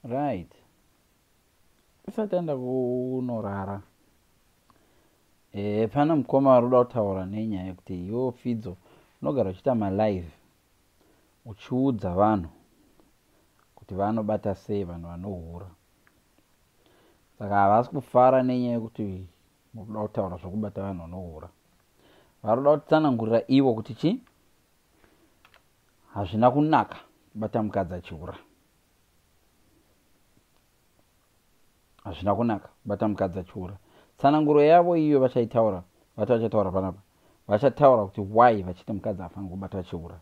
right usati aenda kunorara e, pana mukoma vari kuda kutaura nenyaya yekuti iwo fidzo unogara uchiita malive uchiudza vanhu kuti vanobata sei vanhu vanohura saka havasi kufara nenyaya yekuti muri kuda kutaura zvokubata vanhu vanohura vari kuda kutsanangurira ivo kuti chii hazvina kunaka kubata mukadzi achihura hazvina kunaka kubata mukadzi achihura tsananguro yavo iyo vachaitaura vati vachataura panapa vachataura kuti why vachiti mukadzi afanira kubata achihura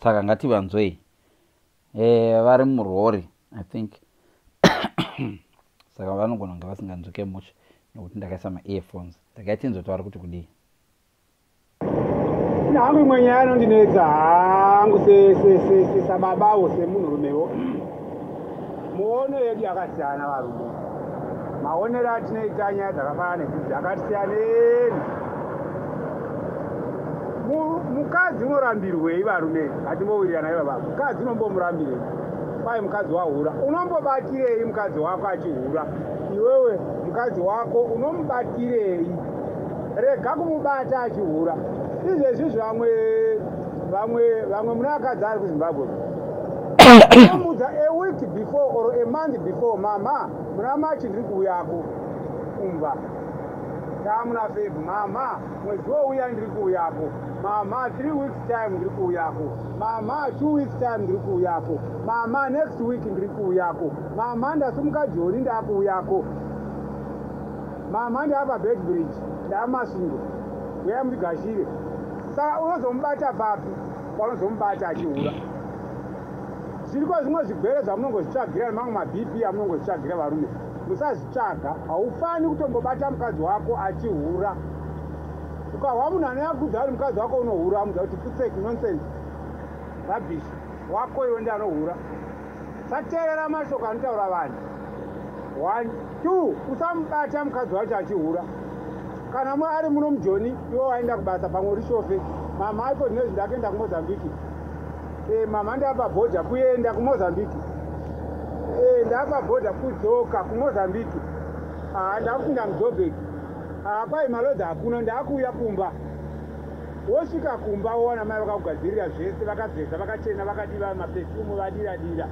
saka ngativanzwei e, vari murori i think saka vanogona kunge vasinganzwike much nekuti ndakaisa maearphones ndakaitinzwe taura kuti kudii hangu imwe nyaya anondinetsa hangu sesababawo semunhurumewo muono yedu yakasiyana varume maonero atinoita nyaya dzakafanana nekuti akasiyaneni mukadzi unorambirwei varume hatimbowirirana iva vavo mukadzi unombomurambirei kwai mukadzi wahura unombobatirei mukadzi wako achihura iwewe mukadzi wako unomubatirei rega kumubata achihura izvezvizvi vamwe vamwe vamwe mune akadzi ari kuzimbabwe amudza a week before or a month before mama muna machi ndiri kuuyako kumba taamuna feb mama mwedzi wouya ndiri kuuyako mama three weeks time ndiri kuuyako mama two weeks time ndiri kuuyako mama next week ndiri kuuyako mama ndasumuka joni ndaakuuyako mama ndaapa bedbridge ndaamasundo uya mutigashire saka unozomubata papi panozomubata achihura zviriko zvimwe zvigwere zvamunongozvitsvagira nemamwe mabp amunongozvitsvagira varume musazvitsvaga haufani kutombobata mukadzi wako achihura ukahwa munhu anoyakudza ari mukadzi wako unohura amuza kuti putsek nonsense rabish wako iwe ndi anohura sateerera mashoko anotaura vanhu one two usamubata mukadzi wacho achihura kana mwe ari muno mujoni iwe waenda kubasa pamwe uri shofe mama aiko zvinoi zvindakuenda kumozambiki e, eh, mama ndapa bhodha kuenda kumozambiki e, eh, ndapa bhodha kudzoka kumozambiki haa ah, ndakupinda mudhobheki haa ah, kwai malodzi hakuna ndakuuya kumba Wosvika kumba wowana mai vakakugadzirira zvese, vakazeza, vakachena, vakadiva maperfume, vadira dira.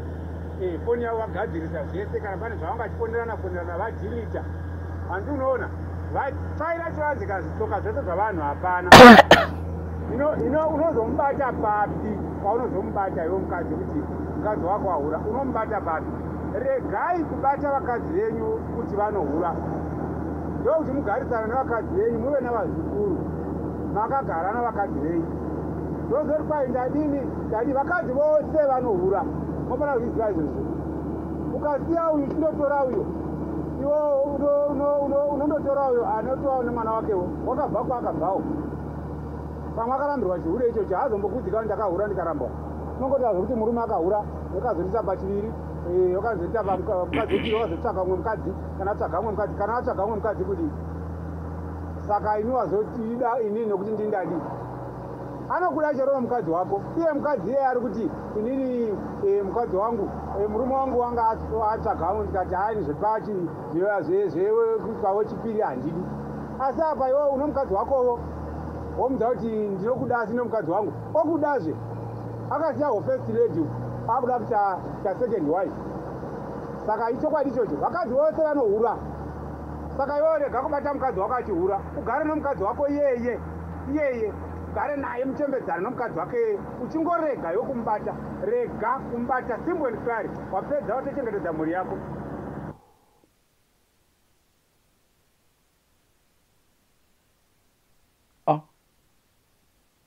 Eh, foni yavo vagadzirisa zvese, kana pane zvavanga chifonerana fonerana vadilita. Hanzi unoona, vafaira chivanzi kana zvitsoka zvese zvavanhu hapana. Ino ino unozomubata papi? Paunozomubata iwe mukadzi kuti mukadzi wako ahura, unomubata papi? Regai kubata vakadzi venyu kuti vanohura. Ndokuti mugarisana nevakadzi venyu muve navazukuru. makagara navakadzi venyu ndozoti kwai ndadini ndadii vakadzi vose vanohura mofana kuzviziva izvozvo ukasiya uyu chindotora uyo iwo unondotora uyo anotovawo nemwana wakewo wakabva kwaakabvawo pamwe akarambirwa chihure ichocho haazombokudzikani ndakahura ndikarambwa unongotaura zvekuti murume akahura wakazondita pachiviri eh, wakazondita pamukadzi wakazotsvaga umwe mukadzi kana atsvaga umwe mukadzi kana atsvaga umwe mukadzi kudii saka ini wazotiida inini nokuti ndindadi anokuda charova mukadzi wako iye mukadzi iyeye ari kuti inini eh, mukadzi wangu eh, murume wangu wanga atsvagamo ndikati haini zvepachi zvepavo chipiri handidi asi apa iwe uno mukadzi wakovo womudza kuti ndinokuda asi nomukadzi wangu okudazve akasiya hofest lady akuda kuta second wife saka ichokwadi ichocho vakadzi vose vanohura Saka iwe rega kubata mukadzi wako achihura, ugare nomukadzi wako iyeye iyeye, ugare naye muchembedzane nomukadzi wake iyeye, uchingorega iwe kumubata. Rega kumubata, simple and clear. Wapedza watochengetedza mhuri yako.